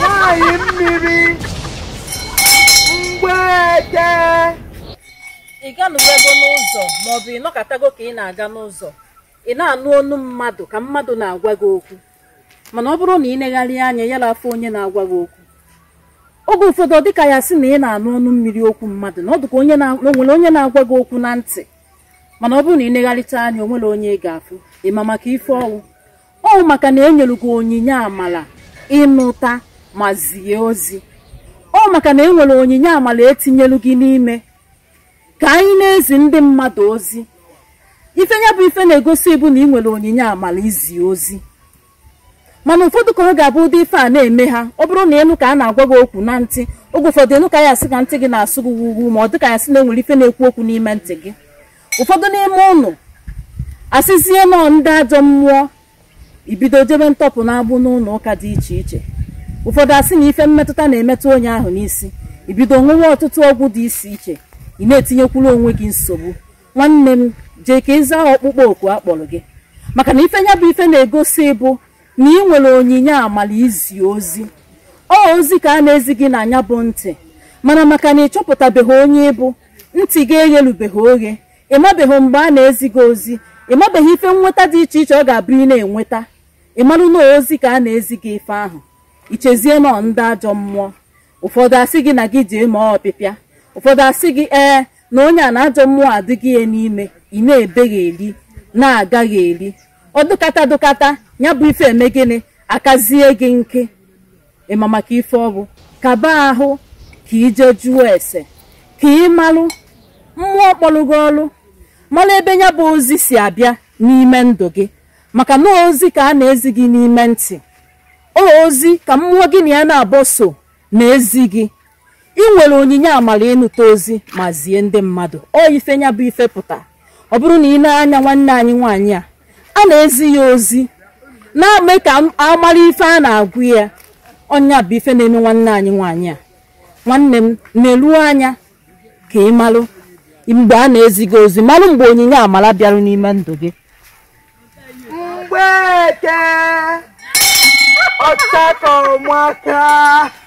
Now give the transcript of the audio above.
Nwaanyị mmiri mgbeke. ị ganụwago n'ụzọ maọbụ ị nọkatago ka ị na-aga n'ụzọ ị na-anụ onu mmadụ ka mmadụ na-agwa gị okwu mana ọ bụrụ na ị negharị anya ya afụ onye na-agwa gị okwu oge ụfọdụ ọ dịka ya sị na ị na-anụ ọnụ mmiri okwu mmadụ na ọ dịka onye na- na o nwere onye na-agwa gị okwu na ntị mana ọ bụrụ na ị negharịta anya o nwerọ onye ị ga-afụ ị ma maka ife ọ wụ ọ maka na enyere gị onyinye amala ịnụta ma zie ozi ọ maka na enwere onyinye amala etinyelu gị n'ime ka anyị na-ezi ndị mmadụ ozi ife ya bụ ife na-egosi bụ na ị nwere onyinye amala izi ozi mana ụfọdụ ka ọ ga-abụ ụdị ife a na-eme ha ọ bụrụ na ị nụ ka a na-agwa gị okwu na ntị oge ụfọdụ ị nụ ka ya asị ka ntị gị na-asụ gị wuwu ma ọ dị ka ya sị na enwere ife na-ekwu okwu n'ime ntị gị ụfọdụ n'ime ụnụ asịzie na ọ ndị ajọ mmụọ i bido jebe ntọpụ n'agbụ n'ụlọ ụka dị iche iche ụfọdụ asị na ife mmetụta na-emetụ onye ahụ n'isi i bido ṅụwa ọtụtụ ọgwụ dị iche iche ị na-etinyekwuru onwe gị nsogbu nwanne m jee ka ị zaa ọkpụkpọ oku a kpọrọ gị maka na ife ya bụ ife na-egosi bụ na ị nwere onyinye amala izi ozi ọ ozi ka a na-ezi gị na nya bụ ntị mana maka na ị chọpụtabeghị onye ị bụ ntị gị eghelubeghị oghe ị mabeghị mgbe a na-ezi gị ozi ị mabeghị ife nnweta dị iche iche ọ ga-abụ ị na-enweta ị marụ na ozi ka a na-ezi gị ife ahụ i chezie na ọ ndị ajọ mmụọ ụfọdụ asị gị na gị jee mee ọpịpịa ụfọdụ asị gị ee na onye a na ajọ mmụọ adịghị ya n'ime ị na-ebegharị na-agagharị ọ dụkata dụkata nya bụ ife eme gịnị akazie gị nke ị ma maka ife ọ wụ kaba ahụ ka ị jee jụọ ese ka ị malụ mmụọ kpọrọ gị ọrụ malụ ebe nya bụ ozi si abịa n'ime ndụ gị maka na ozi ka a na-ezi gị n'ime ntị o ozi ka mmụọ gị na ya naabọ so na-ezi gị ị nwere onyinye amara ịnụta ozi ma zie ndị mmadụ ọ ife nya bụ ife pụta ọ bụrụ na ị nee anya nwanne anyị nwaanyị a a na-ezi ya ozi na-eme ka amara ife a na-agwa ya ọ nya bụ ife na-eme nwanne anyị nwaanyị a nwanne m neru anya ka ị malụ mgbe a na-ezi gị ozi malụ mgbe onyinye amara bịarụ n'ime ndụ gị mgbeke ọchakọmaka